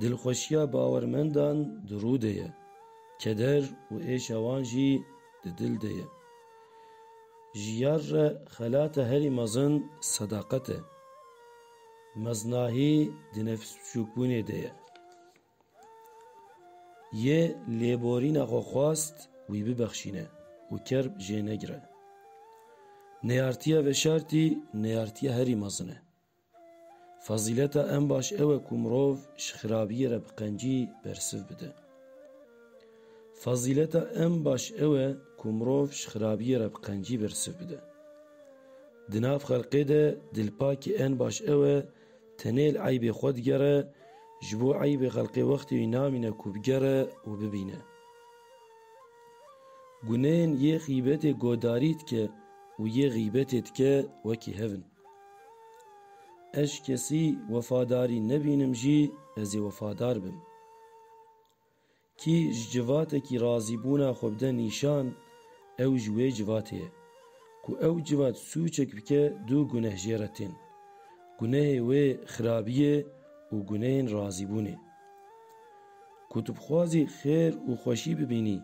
Dilxweşiya bawermendan di rû de ye, keder û êşa wan jî di dil de ye. Ji yar re xelata herî mezin sedaqet e. Meznahî di nefsbiçûkbûnê de ye. Yê lêborîna xwe xwest wî bibexşîne û kerb jê negire. Neyartiya veşartî neyartiya herî mezin e. Fezîleta en baş ew e ku mirov ji xirabiyê re bi qencî bersiv bide. Fezîleta en baş ew e ku mirov ji xirabiyê re bi qencî bersiv bide. Di nav xelqê de dilpakî en baş ew e tenê li eybê xwe digere, ji bo eybê xelqê wextê wî namîne ku bigere û bibîne. Guneyên yê xîbetê godarî dike û yê xîbetê dike wekî hev in. Ez kesî wefadarî nebînim jî ez ê wefadar bim. Kî ji civatekî razîbûna xwe bide nîşan ew ji wê civatê ye. Ku ew civat sûçek bike du guneh jê re tên. Gunehê wê xirabiyê û gunehên razîbûnê. Ku tu bixwazî xêr û xweşî bibînî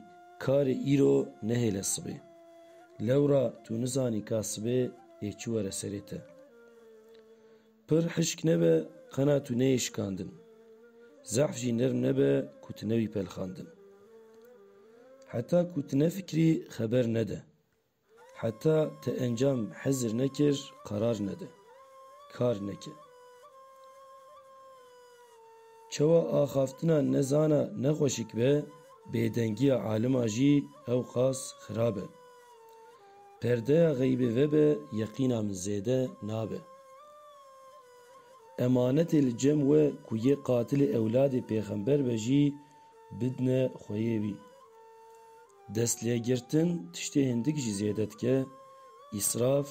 karê îro nehêle sibê. Lewra tu nizanî ka sibê yê çi were serê te. Pir hişk nebe qena tu neyê şikandin. Zehf jî nirm nebe ku tu newî pelxandin. Heta ku tu nefikirî xeber nede. Heta te encam hezir nekir qerar nede. Kar neke. Çewa axaftina nezana nexweşik be, bêdengiya alima jî ewqas xirab e. Perdeya xeybê vebe yeqîna min zêde nabe. Emanetê li cem we ku yê qatilê ewladê pêxember be jî bidne xweyê wî. Destlêgirtin tiştê hindik jî zêde dike, îsraf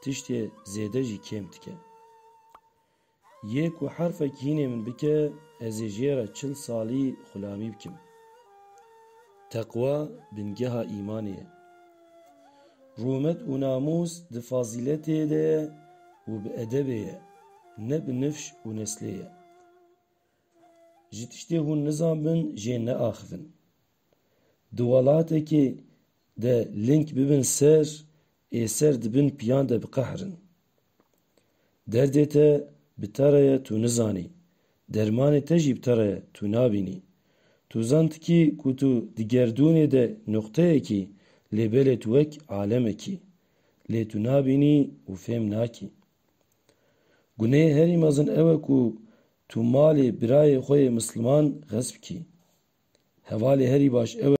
tiştê zêde jî kêm dike. Yê ku herfek hînê min bike ez ê jê re çil salî xulamî bikim. Teqwa bingeha îmanê ye. Rûmet û namûs di fazîletê de ye û bi edebê ye, ne bi nifş û neslê ye. Ji tiştê hûn nizanbin jê neaxivin. Di welatekê de link bibin ser ê ser di bin piyan de biqehirin. Derdê te bi te re ye tu nizanî, dermanê te jî bi te re ye tu nabînî. Tu zantikî ku tu di gerdûnê de nuqteyek î lê belê tu wek alemek î. Lê tu nabînî û fêm nakî. Guneyê herî mezin ew e ku Tu malê birayê xwe yê misliman xesp kî. Hevalê herî baş ew e.